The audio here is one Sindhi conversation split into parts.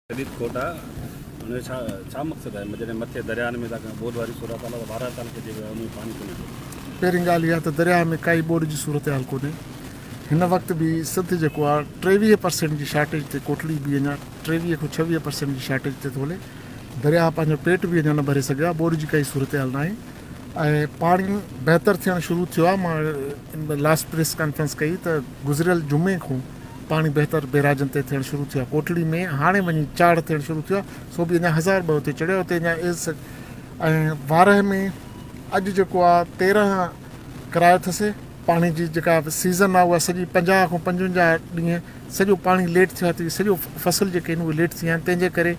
جديد کوٽا ان جو ڇا ڇا مقصد آهي جڏهن مٿي درياهن ۾ تاڪه ٻوڏ واري صورت حال آهي ٻارهن سال کي جيڪو آهي ان ۾ پاڻي ڪونهي ٿو پهرين ڳالهه اها ته درياهه ۾ ڪائي ٻوڏ جي صورتحال ڪونهي هن وقت به سنڌ جيڪو آهي ٽيويهه پرسينٽ جي شارٽيج تي ڪوٽڙي به اڃا ٽيويهه کان ڇويهه پرسينٽ جي شارٽيج تي ٿو هلي درياهه پنهنجو پيٽ به اڃا نه ڀري سگهيو آهي ٻوڏ جي ڪائي صورتحال ناهي ۽ پاڻي بهتر ٿيڻ شروع ٿيو آهي لاس پريس ڪانفرنس ڪئي ته گذريل جمعي کون پاڻي بهتر بيراجن تي ٿيڻ شروع ٿيو آهي ڪوٽڙي ۾ هاڻي وڃي چاڙهه ٿيڻ شروع ٿيو آهي سو به اڃا هزار ٻه اتي چڙهيا اتي اڃا ايز سج ۽ وارهه ۾ اڄ جيڪو آهي تيرهن ڪرايو ٿسي پاڻي جي جيڪا سيزن آهي اها سڄي پنجاهه کان پنجونجاهه ڏينهن سڄو پاڻي ليٽ ٿيو آهي ته سڄو فصل جيڪي آهن اهي ليٽ ٿي ويا آهن تنهنجي ڪري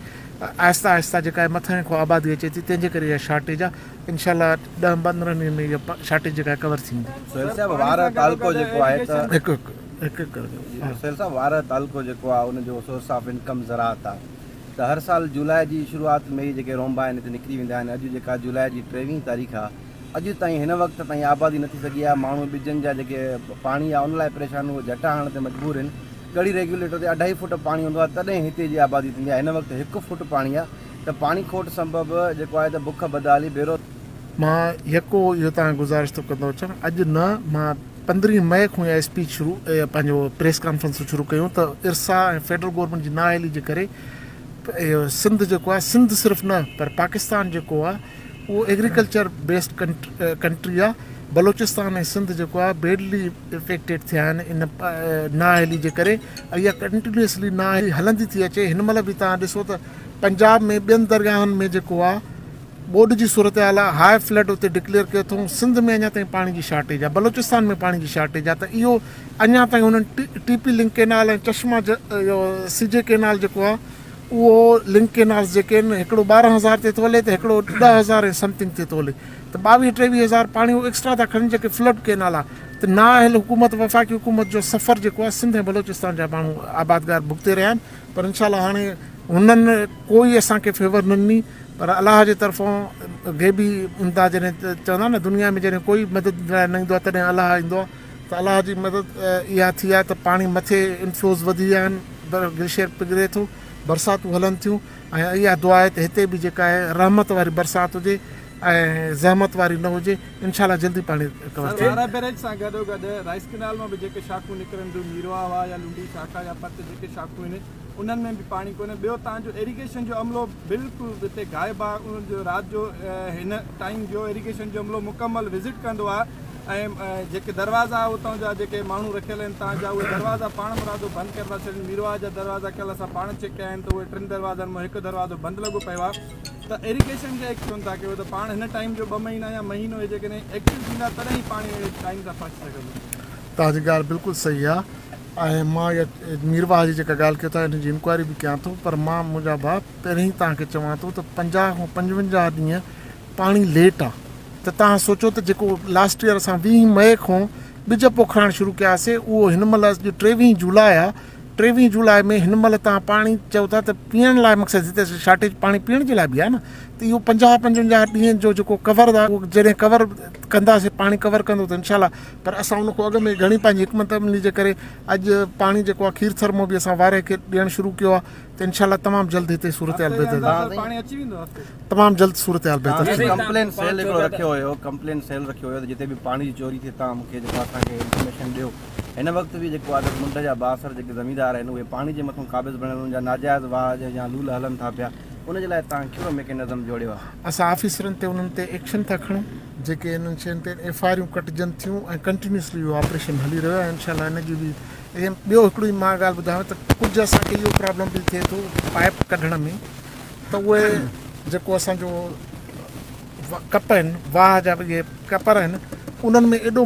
آهستي آهستي جيڪا آهي مٿانهين کان آبادي اچي ٿي تنهنجي ڪري اها شارٽيج آهي انشاء الله ڏهن پندرهن ڏينهن ۾ اها شارٽيج جيڪا آهي ڪور ٿيندي. سهيل صاحب وار تعلقو جيڪو آهي ته هڪ هڪ هڪ ڪرجو سهيل صاحب وار تعلقو جيڪو آهي ان جو سورس آف انڪم زراعت آهي ته هر سال جولاء جي شروعات ۾ ئي جيڪي رونبا آهن هتي نڪري ويندا آهن اڄ جيڪا جولاء جي ٽيويهين تاريخ آهي اڄ تائين هن وقت تائين آبادي نه ٿي سگهي آهي ماڻهو ٻجن جا جيڪي پاڻي آهي ان لاء پريشان آهن اهي جهٽا هڻڻ تي مجبور آهن ڳڙهي ريگيوليٽر تي اڍائي فوٽ پاڻي هوندو آهي تڏهن هتي جي آبادي ٿيندي آهي هن وقت هڪ فوٽ پاڻي آهي ته پاڻي کوٽ سبب جيڪو آهي ته بک، بدحالي، بيرو. مان يڪو اهو توهان گذارش ٿو ڪندو اچان اڄ نه مان پندرهين مئي کون اها اسپيچ شروع پنهنجو پريس ڪانفرنسون شروع ڪيون ته ارسا ۽ فيڊرل گورنمينٽ جي نااهلي جي ڪري سنڌ جيڪو آهي سنڌ صرف نه پر پاڪستان جيڪو آهي اهو ايگريڪلچر بيسڊ ڪنٽري آهي بلوچستان ۽ سنڌ جيڪو آهي بيڊلي افيڪٽيڊ ٿيا آهن ان نااهلي جي ڪري اها ڪنٽينيوسلي نااهلي هلندي ٿي اچي هن مهل به تان ڏسو ته پنجاب ۾ ٻين درگاهن ۾ جيڪو آ ٻوڏ جي صورتحال آ هاء فلڊ اتي ڊڪليئر ڪيو اٿئون سنڌ ۾ اڃا تائين پاڻي جي شارٽيج آ بلوچستان ۾ پاڻي جي شارٽيج آ ته اهو اڃا تائين انهن T P link canal ۽ Chashma اهو سي جي ڪينال جيڪو آ اهو لنڪ ڪينالز جيڪي آهن هڪڙو ٻارهن هزار تي ٿو هلي ته هڪڙو ڏهه هزار ۽ سمٿنگ تي ٿو هلي ته ٻاويهه ٽيويهه هزار پاڻي هو ايڪسٽرا ٿا کڻن جيڪي فلڊ ڪينال آ ته نااهل حڪومت وفاقي حڪومت جو سفر جيڪو آ سنڌ ۽ بلوچستان جا ماڻهو آبادگار ڀڳتي رهيا آهن پر انشاء الله هاڻي هنن ڪوئي اسان کي فيور نه ڏني پر الله جي طرفان غيبي امداد جڏهن چوندا آهن نه دنيا ۾ جڏهن ڪوئي مدد لاء نه ايندو آهي تڏهن الله ايندو آهي ته الله جي مدد اها ٿي آهي ته پاڻي مٿي انفلوز وڌي ويا آهن گليشيئر پگهري ٿو برساتون هلن ٿيون ۽ اها دعا آهي ته هتي به جيڪا آهي رحمت واري برسات هجي ۽ زحمت واري نه هجي انشاء الله جلدي پاڻي ڪور ٿي ويندي. بئريج سان گڏو گڏ رائيس ڪئنال مان به جيڪي شاخون نڪرن ڊو ميرواهه واه يا لنڊي شاخا يا پت جيڪي شاخون آهن انهن ۾ به پاڻي ڪونهي ٻيو تان جو ايريگيشن جو عملو بلڪل هتي غائب آهي انهن جو رات جو هن ٽائيم جو ايريگيشن جو عملو مڪمل وزٽ ڪندو آهي ۽ جيڪي دروازا اتان جا جيڪي ماڻهو رکيل آهن تان جا اهي دروازا پاڻ مرادو بند ڪري ٿا ڇڏين ميرواهه جا دروازا ڪل اسان پاڻ چيڪ ڪيا آهن ته اهي ٽن دروازن مان هڪ دروازو بند لڳو پيو آهي ته ايريگيشن جا ايڪٽ ٿين ٿا ڪيو ته پاڻ هن ٽائيم جو ٻه مهينا يا مهينو هي جيڪڏهن ايڪٽو ٿيندا تڏهن هي پاڻي اهڙي ٽائيم تان پهچي سگهندو. توهان جي ڳالهه بلڪل صحيح آ ۽ مان اها مير واهه جي جيڪا ڳالهه ڪيو ٿا ان جي انڪوائري به ڪيان ٿو پر مان منهنجا ڀاء پهرين ئي توهان کي چوان ٿو ته پنجاهه کان پنجونجاهه ڏينهن پاڻي ليٽ آ ته توهان سوچو ته جيڪو لاسٽ يير اسان ويهه مئي کان ٻج پوکرائڻ شروع ڪياسي اهو هن مهل اڄ ٽيويهه جولاء آ ٽيويهين جولاء ۾ هن مهل تان پاڻي چئو ٿا ته پيئڻ لاء مقصد جتي شارٽيج پاڻي پيئڻ جي لاء به آهي نه ته اهو پنجاهه پنجونجاهه ڏينهن جو جيڪو ڪور آهي اهو جڏهن ڪور ڪنداسي پاڻي ڪور ڪندو ته انشاء الله پر اسان ان کان اڳ ۾ گهڻي پنهنجي حڪمت عملي جي ڪري اڄ پاڻي جيڪو آهي کير ٿر مون به اسان واري کي ڏيڻ شروع ڪيو آهي ته انشاء الله تمام جلد هتي صورتحال بهتر تمام جلد صورتحال بهتر ٿيندي ڪمپلين سيل هڪڙو رکيو هيو ڪمپلين سيل رکيو هيو ته جتي به پاڻي جي چوري ٿئي تان مون کي جيڪو اسان کي انفارميشن ڏيو هن وقت به جيڪو عادت منڍ جا بااثر جيڪي زميندار آهن اهي پاڻي جي مٿون قابض بڻيل انهن جا ناجائز واهه يا لول هلن ٿا پيا ان جي لاء توهان ڪهڙو ميڪينزم جوڙيو آهي؟ اسان آفيسرن تي انهن تي ايڪشن ٿا کڻون جيڪي انهن شين تي ايف آء آريون ڪٽجن ٿيون ۽ ڪنٽينيوسلي اهو آپريشن هلي رهيو آهي انشاء الله هن جي به ايم ٻيو هڪڙو ئي مان ڳالهه ٻڌايو ته ڪجهه اسان کي اهو پرابلم به ٿئي ٿو پائپ ڪڍڻ ۾ ته اهي جيڪو اسان جو ڪپرن واهه جا اهي ڪپر آهن انهن ۾ ايڏو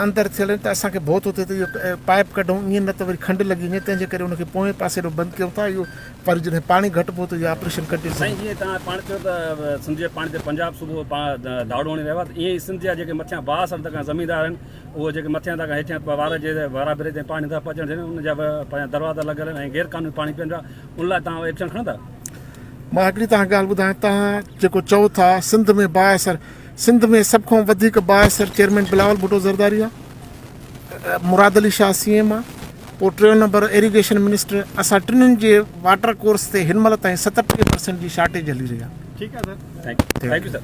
اندر ٿيل آهن ته اسان کي ڀو ٿو ٿئي ته اهو پائيپ ڪڍون ائين نه ته وري کنڊ لڳي وڃي تنهن جي ڪري ان کي پوئين پاسي ڏانهن بند ڪيون ٿا اهو پر جڏهن پاڻي گهٽ ڀو ته اهو آپريشن ڪنٽينيو سائين جيئن توهان پاڻ چيو ته سنڌ جي پاڻي تي پنجاب صوبو ڌاڙو هڻي رهيو آهي ائين ئي سنڌ جا جيڪي مٿيان واهه سر تکان زميندار آهن اهو جيڪي مٿيان تکان هيٺيان وارا جي وارا ڀري تي پاڻي نٿا پهچڻ ڏين ان جا پنهنجا دروازا لڳل آهن ۽ غير قانوني پاڻي پين پيا ان لاء توهان ايڪشن کڻندا؟ مان هڪڙي توهان کي ڳالهه ٻڌايان توهان جيڪو چئو ٿا سنڌ ۾ بااثر سنڌ ۾ سڀ کان وڌيڪ بااثر چيئرمين بلاول ڀٽو زرداري آ مراد علي شاهه سي ايم آ پوء ٽيون نمبر ايريگيشن منسٽر اسان ٽنن جي واٽر ڪورس تي هن مهل تائين ستٽيهه پرسنٽ جي شارٽيج هلي رهي آ ٺيڪ آ سر ٿينڪ يو سر